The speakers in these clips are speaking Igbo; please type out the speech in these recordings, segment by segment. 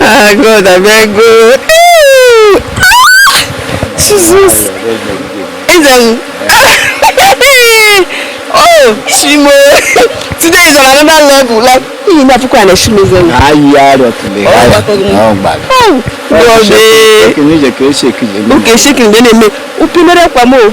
ah god abeg go jesus eze m oh shimo today is on another level like iyi na puku ana shimo eze m ayi arọ tule ọ gbara oh god ee oke shekiri mgbe na-eme upinere kwa m o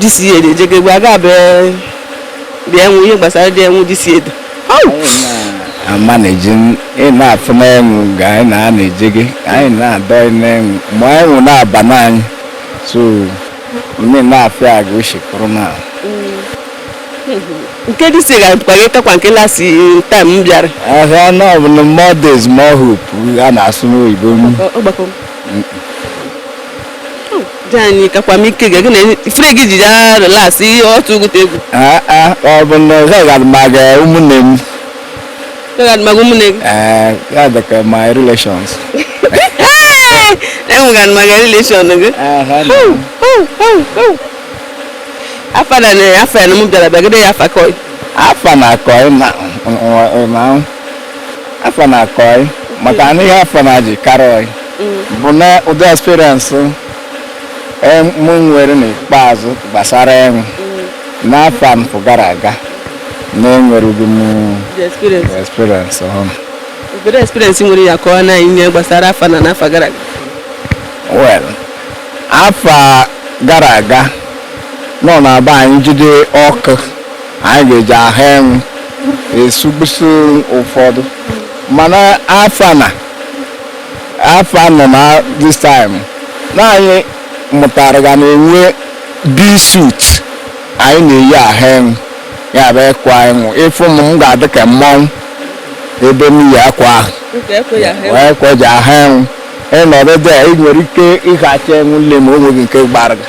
this year dị ejego egwu aga abụ dị enwu ihe gbasara dị enwu this year o ama na-eji ị na-afụ n'enwu ga anyị na a na-eje gị anyị na-adọ n'enwu ma enwu na-aba n'anyị so mme na-afịa aga uche kụrụ na nke this year ga-abụkwa gị kakwa nke last time m bịara ahịa na ọ bụ na more days more hope a na-asụ n'oyibo m ọgbakọ dịanyị kakwa m ike gị na ifere gị ji ya last year otu ụgụta egwu Ah, ah, ọ bụ na ọ gaghị adịmaga ụmụnne m gaghị adịmaga ụmụnne gị Eh, ya dị ka my relations enweghị adịmaga relation gị afa na afa ya na mụ bịara bịagide ya afa kọị afa na-akọ ịma ịma afa na-akọ anyị maka na ihe afa na-eji karị anyị bụ na ụdị experience eh, mụ nwere n'ikpeazụ gbasara enwu n'afa anfụ gara aga na enwereghị m the experience ọhụ. Obere experience nwere ya kọọ na anyị ihe gbasara afa na n'afa gara aga. well afa gara aga na ọ na-abụ anyị jide ọkụ anyị ga-eji aha enwụ esugbusị ụfọdụ mana afa na afa nọ na this time na anyị mụtara ga na e nwe bee suit anyị na-eyi aha enwụ ya bụ akwa enwụ ị fụ m m ga-adị ka mmanwụ ebe m yi akwa ahụ wee kweji aha enwụ ịnọdụ dị a, ị nwere ike ịhacha enwụ nle ma o nweghị nke gbara gị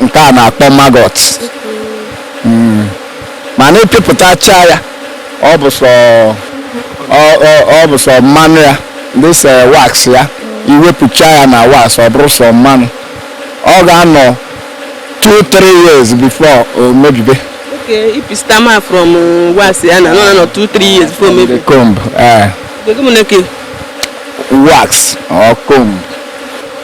nke a na-akpọ maggot Mm. mana ị pịpụtacha ya ọ bụ sọ ọ- ọ- ọ bụ sọ mmanụ ya this wax ya i wepụcha ya na wax ọ bụrụ sọ mmanụ ọ ga-anọ 2-3 years before o mebibe Okay, i wepụta mmanụ from uh, wax ya na-anọ two three years before o mebie. comb eh, wax or comb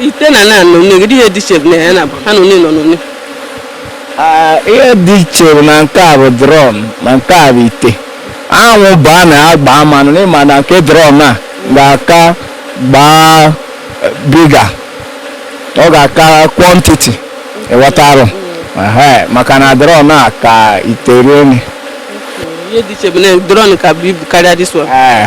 ite na na nọ n'egide ihe dị iche na ya na ha nọ n'ịnọ n'one Ah, ihe dị iche bụ na nke a bụ drum na nke a bụ ite anwụ baa na ya gbaa mmanụ n'ịma na nke drum a ga-aka gbaa bigger ọ ga-aka quantity ị ghọtarụ Ehe, maka na drum a ka ite rie nne ihe dị iche bụ na drum ka bu ibu karịa this one Ee.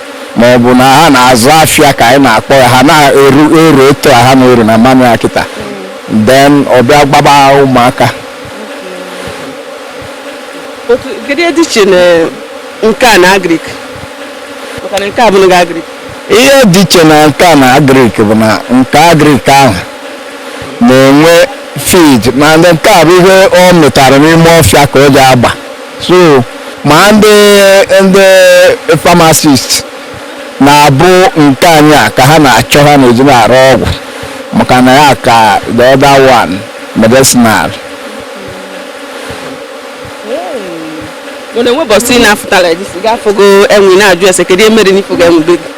ma ọ bụ na ha na-azụ afịa ka anyị na-akpọ ya ha na-eru eru etu a ha na-eru na mmanụ ya kịta then ọ bịa gbaba ụmụaka kedu ihe dị iche na nke a na agrik maka na nke a abụrọ agrik ihe dị iche na nke a na agrik bụ na nke agrik ahụ na-enwe feed mana nke a bụ ihe ọ mịtara n'ime ọfịa ka o ji agba so ma ndị ndị pharmacist na-abụ nke anyị a ka ha na-achọ ha na-eji na-arụ ọgwụ maka na ya ka the other one medicinal mana e nwe ụbọsị na-afụtara edisi ga-afụgo enwu na-ajụ ese kedu ihe mere na ị fụgo enwu be gị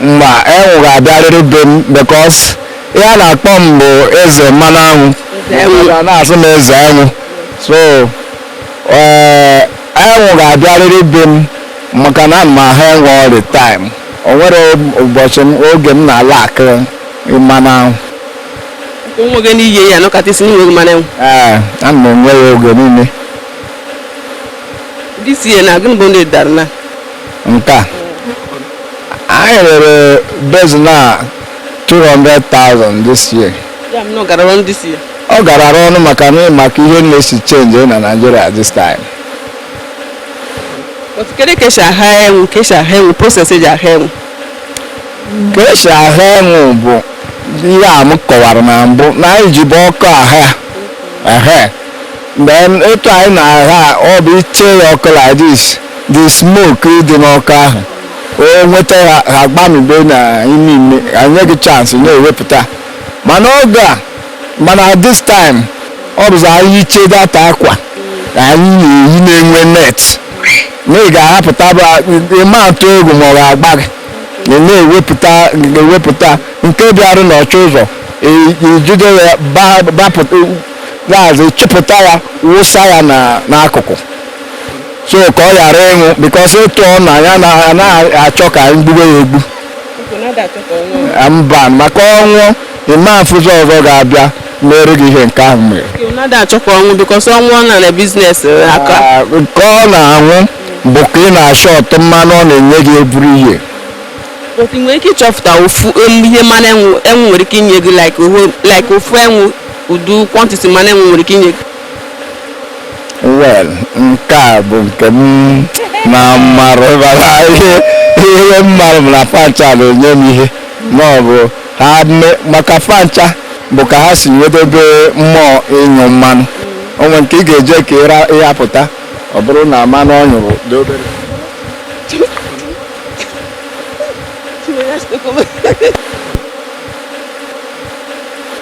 mba enwụ ga-abịarịrị be m because ihe a na-akpọ m bụ eze mmanụ anwụ Eze enwụ. a na-asụ m eze anwụ so ee enwụ ga-abịarịrị be m maka na ana m aha enwu all the time o nwere ụbọchị m oge m na-ala akọ mmanụ anwụ o nweghị na ị ya-anọkata ị sị na i nweghị mmanụ enwụ ee ana m enwe ya oge niile this year na gịnị bụ ndị dara na nke a anyị rere basin a 200,000 this year ya bụ na ọ gara ọnụ this year ọ garara ọnụ maka na maka ihe na-esi change na Naịjirịa this time but kedu ka esi aha enwu ka esi aha enwu process eji aha enwu ka esi aha enwu bụ ihe a m kọwara na mbụ na anyị jibu ọkụ aha ehe then etu anyị na-aha ọ bụ ị chee ya ọkụ like this the smoke dị n'ọkụ ahụ o nweta ha ha gbamibe na ime ime enye gị chance na-ewepụta mana oge a mana at this time ọ bụzi anyị yichie that akwa anyị na-eyi na-enwe net na ị ga-ahapụta ị ma atụ egwu ma ọ ga-agba gị na ị na-ewepụta ewepụta nke bịara nọchie ụzọ i- ijide ya ba- bapụta gaazị chịpụta ya wụsa ya na- n'akụkụ so ka ọ ghara ịnwụ because ịtụ ọ na anyị anaghị achọ ka anyị gbube ya egbu mba maka ọ nwụọ ị ma afụzi ọzọ ga-abịa meere gị ihe nke ahụ mere nke ọ na-anwụ bụ ka ị na-ashort mmanụ ọ na-enye gị every year but ị nwere ike ịchọpụta ofu um, ihe mmanụ enwu enwu nwere ike inye gị like ofu enwu ụdị kwantiti mmanụ enwu nwere ike inye gị well nke a bụ nke m na mmarụ bara ihe ihe mmarụ m na fancha na-enye m ihe ma ọ bụ ha me- maka fancha bụ ka ha si wedebe mmụọ ịnyụ mmanụ o nwee nke ị ga-eje ka ịra ịhapụta ọ bụrụ na mmanụ ọ nyụrụ dị obere